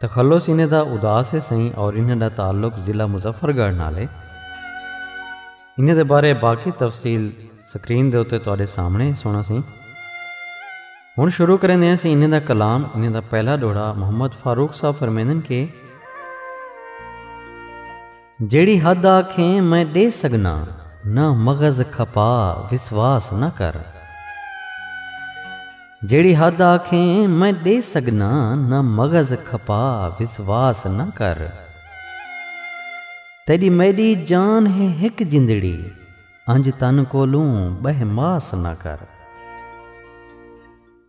تخلص انہیں دا اداس ہے سئیں اور انہیں دا تعلق ضلع مظفر گڑھ نال ہے انہیں دے بارے باقی تفصیل سکرین دے اتے تواڈے سامنے سونا سئیں ہن شروع کریں دے سئیں انہیں دا کلام انہیں دا پہلا دوڑا محمد فاروق صاحب فرمیندن کے جیڑھی حد آکھیں میں ݙے سڳناں نہ مغز کھپا وسواس نہ کر۔ جیڑھی حد آکھیں میں ݙے سڳناں نہ مغز کھپا وسواس نہ کر۔ تیݙی میݙی جان ہے ہک جندڑی انج تن کولوں ٻہہ ماس نہ کر۔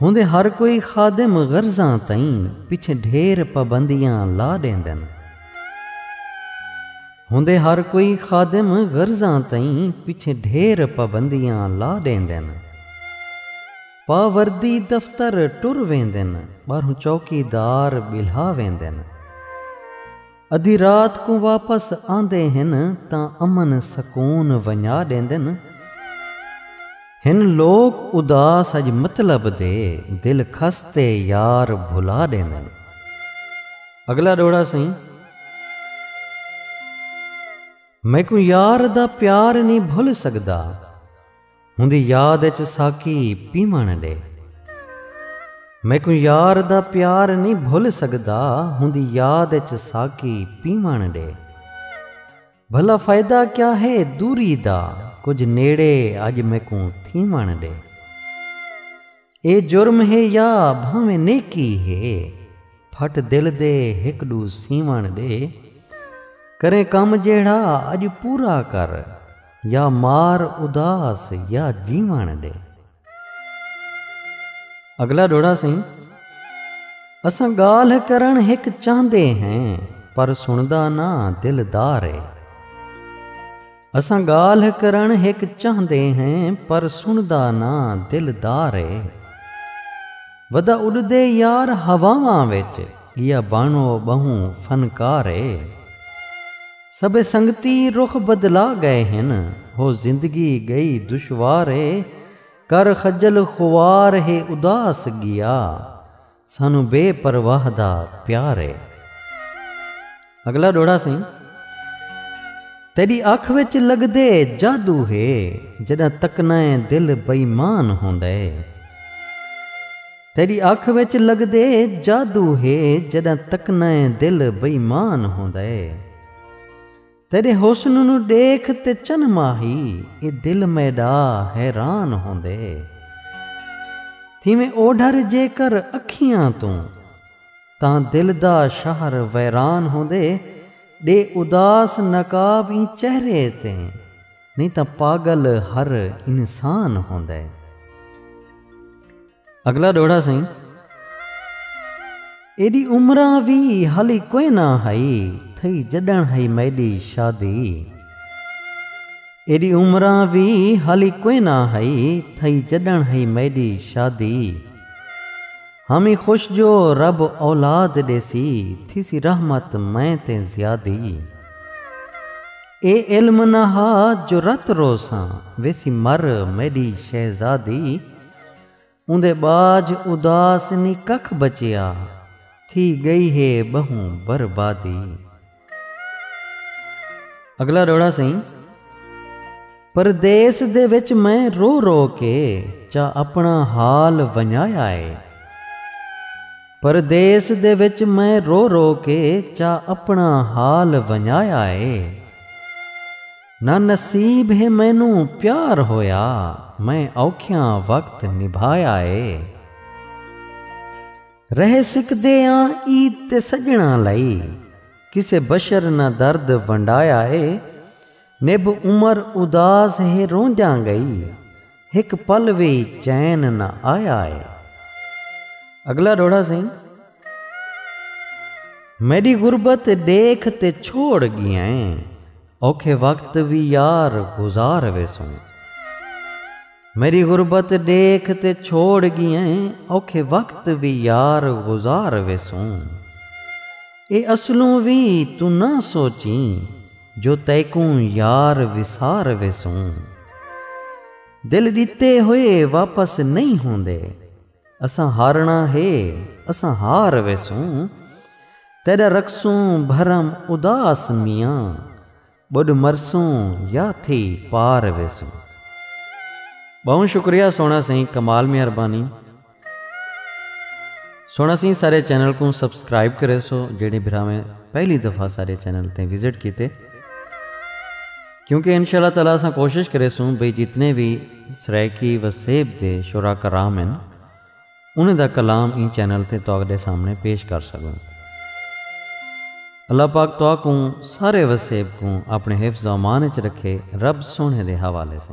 ہوندے ہر کوئی خادم غرضاں تئیں پچھے ڈھیر پابندیاں لا ڈیندن ہوندے ہر کوئی خادم غرضاں تئیں پچھے ڈھیر پابندیاں لا ڈیندن پا وردی دفتر ٹر ویندن ٻاہروں چوکی دار ٻلھا ویندن۔ ادھی رات کوں واپس آندے ہن تاں امن سکون ونجا ڈیندن۔ ہن لوک اداس اج مطلب دے دل خستے یار بھلا ڈیندن۔ اگلا ڈوہڑا سئیں۔ میکوں یار دا پیار نی بھل سگدا۔ اوندی یاد اچ ساقی پیوݨ ݙے۔ میکوں یار دا پیار نی بھل سڳدا اوندی یاد اچ ساقی پیوݨ ݙے۔ بھلا فائدہ کیا ہے دوری دا کجھ نیڑے اڄ میکوں تھیوݨ ݙے۔ اے جرم ہے یا بھانویں نیکی ہے پھٹ دل دے ہک ڈو سیوݨ ڈے کریں کم جیڑھا اج پورا کر یا مار اداس یا جیوݨ ڈے۔ اگلا ڈوہڑا سئیں اساں گالھ کرݨ ہک چاہندے ہیں پر سݨدا نہ دلدار اے۔ اساں گالھ کرن ہک چاہندے ہیں پر سندا نہ دلدار اے ودا اڈدے یار ہواواں وچ گیا بانو بہوں فنکار اے سبھے سنگتی رخ بدلا گئے ہن ہو زندگی گئی دشوار اے کر خجل خوار ہے اداس گیا۔ سانوں بے پرواہ دا پیار اے۔ اگلا ڈوہڑا سئیں۔ تیڈی اکھ وچ لگدے جادو ہے جڈاں تکنا اے دل بئیمان ہوندا اے۔ تیڈی اکھ وچ لگدے جادو ہے جڈاں تکنا اے دل بئیمان ہوندا اے۔ تیݙے حسن نوں ݙیکھ تے چن ماہی اے دل میݙا حیران ہوندے تھیویں اوڈھر جیکر اکھیاں توں تاں دل دا شہر ویران ہوندے ݙے اداس نقاب ایں چہرے تے نئیں تاں پاڳل ہر انسان ہوندے۔ اگلا ڈوہڑا سئیں۔ ایڈی عمراں وی ہالی کوئنا ہئی تھئی جڈن ہئی میڈی شادی۔ ایڈی عمراں وی ہالی کوئنا ہئی تھئی جڈن ہئی میڈی شادی۔ ہامی خوش جو رب اولاد ڈیسی تھیسی رحمت میں تے زیادی۔ اے علم نہ ہا جو رت روساں ویسی مر میڈی شہزادی۔ اوندے ٻاجھ اداس نی ککھ بچیا تھی ڳئی ہے ٻہوں بربادی۔ اڳلا ݙوہڑا سئیں۔ پردیس دے وچ میں رو رو کے چا اپݨا حال ونڄایا ہے۔ پردیس دے وچ میں رو رو کے چا اپݨا حال ونڄایا ہے۔ نہ نصیب ہے مینوں پیار ہویا میں اوکھیاں وقت نبھایا اے رہ سکدے آں عید تے سجناں لئی کسے بشر نہ درد ونڈایا اے نبھ عمر اداس ہے روندیاں گئی ہک پل وی چین نہ آیا اے۔ اگلا ڈوہڑا سئیں۔ میڈی غربت ڈیکھ تے چھوڑ گیا اے۔ اوکھے وقت وی یار گزار ویسوں۔ میڈی غربت ڈیکھ تے چھوڑ گیا اے۔ اوکھے وقت وی یار گزار ویسوں۔ اے اصلوں وی توں نہ سوچیں۔ جو تیکوں یار وسار ویسوں۔ دل ݙتے ہوئے واپس نئیں ہوندے۔ اساں ہارݨا ہے اساں ہار ویسوں۔ تیݙا رکھسوں بھرم اداس میاں۔ ٻݙ مرسوں یا تھی پار ویسوں۔ ٻہوں شکریہ سوہݨا سئیں کمال مہربانی۔ سونا سی سارے چینل کو سبسکرائب کرے سو جیڑے بھراویں پہلی دفعہ سارے چینل تے وزٹ کیتے کیونکہ انشاءاللہ تعالی اساں کوشش کرے سو بھئی جتنے بھی سرائیکی و سیب دے شورا کرام ہیں انہیں دا کلام این چینل تے توق دے سامنے پیش کر سکوں اللہ پاک توق کو سارے و سیب کو اپنے حفظ و امان اچ رکھے رب سونے دے حوالے سے